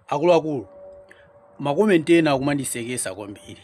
akuluakulu makomenti ena akumandisekesa kwambiri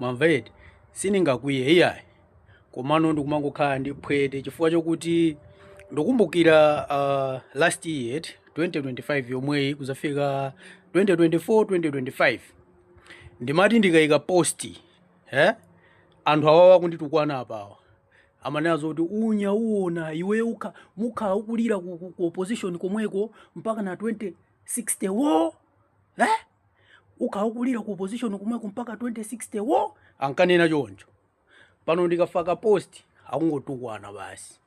mwamva eti sindingakwiye iyayi komano ndikumangokhala ndi phwete chifukwa chokuti ndikumbukira uh, last year 2025 yomweyi kudzafika 2024 2025 ndimati ndikaika post eh? anthu awawa kunditukwana apawa amanena zoti unya uona iwe u ukhala ukulira ku, ku, ku opposition komweko mpaka na 2060 wo eh? ukhala ukulira ku opposition komweko mpaka 2060 wo ankanena choncho pano ndikafaka post akungotukwana basi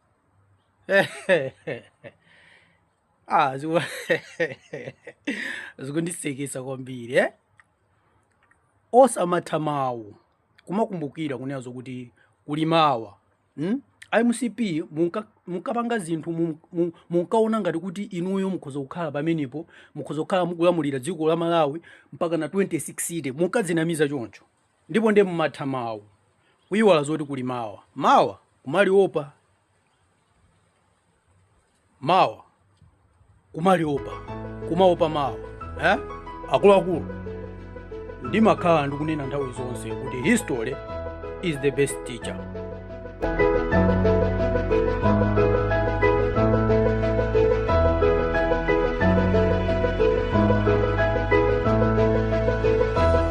ah ziku- zikundisekesa kwambiri eh? osamatha mawu kumakumbukira kunena zokuti kuli mawa hmm? mcp munka- munkapanga zinthu mun- mun- munkaona ngati kuti inuyo mukhoza kukhala pamenepo mukhoza kukhala mukulamulira dziko la malawi mpaka na 2060 munkadzinamiza choncho ndipo ndiye mumatha mawu kuiwala zoti kuli mawa mawa kumaliopa mawa kumaliopa kumaopa mawa eh? akuluakulu ndimakhala ndikunena nthawi zonse kuti history is the best teacher